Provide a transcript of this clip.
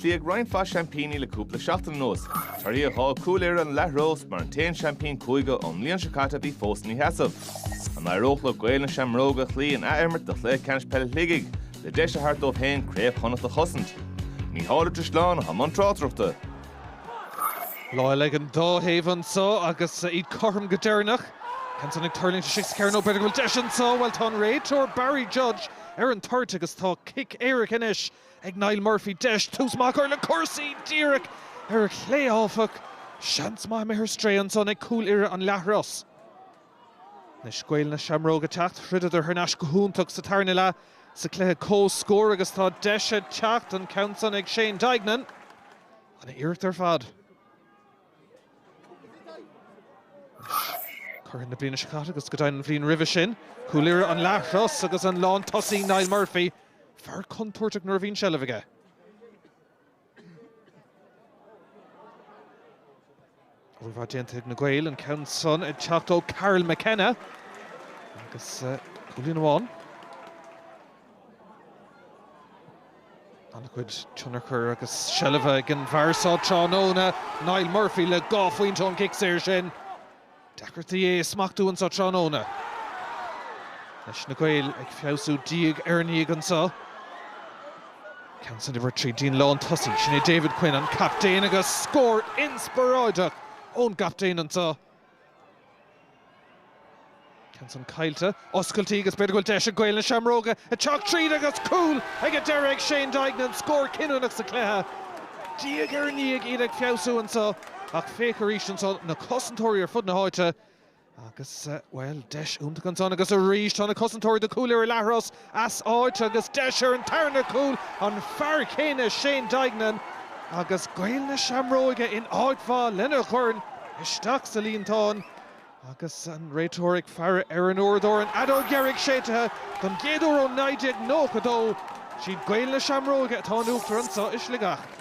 Cloíodh roinnt mhaith seaimpíní le cúpla seachtain anuas. Torthaí a dh'fhág Cúil Irra an Leathros mar an t-aon seaimpín cúige ón mbliain seo caite a bhí fós ina sheasamh. An éireodh le Gaeil na Seamróga a chloí in athimirt do chluiche ceannais peile Shligigh le deis a thabhairt dóibh féin Craobh Chonnacht a chosaint? Mícheál Ó Drisleáin i mbun tráchtaireachta. Lá eile ag an dá thaobh annso agus iad cothrom go deireanach. Ceann san ag tuirlingt istigh sa chearnóg? B'fhéidir go bhfuil deis annso? Bhuel tá an réiteoir Barry Judge ar an toirt agus tá cic éirice anois ag Niall Murphy deis tús maith a chur le cúrsaí díreach ar a chlé áfach, seans maith imithe ar strae ansan ag Cúil Irra an Leathros. Anois Gaeil na Seamróga teacht throideadar thar n-ais go hiontach sa tarna leath sa cluiche comhscór agus tá deis ag teacht an ceann san ag Shane Deignan. An-iarracht ar fad. Curaidh na bliana seo caite agus go deimhin an bhliain roimhe sin, Cúil Irra an Leathros agus an lántosaí Niall Murphy fear contúirteach nuair a bhíonn seilbh aige. Rud mhaith déanta ag na Gaeil an ceann san ag teacht ó Karl McKenna agus cúilín amháin. An-chuid tionchar agus seilbhe ag an bhfear seo tráthnóna, Niall Murphy le dhá phointe ón gcic saor sin. Deacrachtaí é a smachtú anso tráthnóna leis na Gaeil ag feabhsú diaidh ar ndiaidh anso. Ceann san imeartha dtí an lántosaí, sin é David Quinn, an captaen agus scór inspioráideach ón gcaptaen anso. Ceann san caillte. Oscailtí agus b'fhéidir go bhfuil deis ag Gaeil na Seamróga ag teacht tríd agus cúl ag an deireadh ag Shane Deignan, scór cinniúnach sa chluiche. Diaidh ar ndiaidh iad ag feabhsú anso ach féach arís anso na cosantóirí ar fud na háite agus, bhuel, deis iontach ansan agus arís tá na cosantóirí do Chúil Irra an Leathros as áit agus deis ar an tarna cúl, an fear céanna Shane Deignan agus Gaeil na Seamróige in áit mhaith lena dhorn isteach sa líontán agus an réiteoir ag faire ar an uaireadóir, an fheadóg dheiridh séidtithe don gcéad uair ó 1992. Siad Gaeil na Seamróige atá in uachtar annso i Sligeach.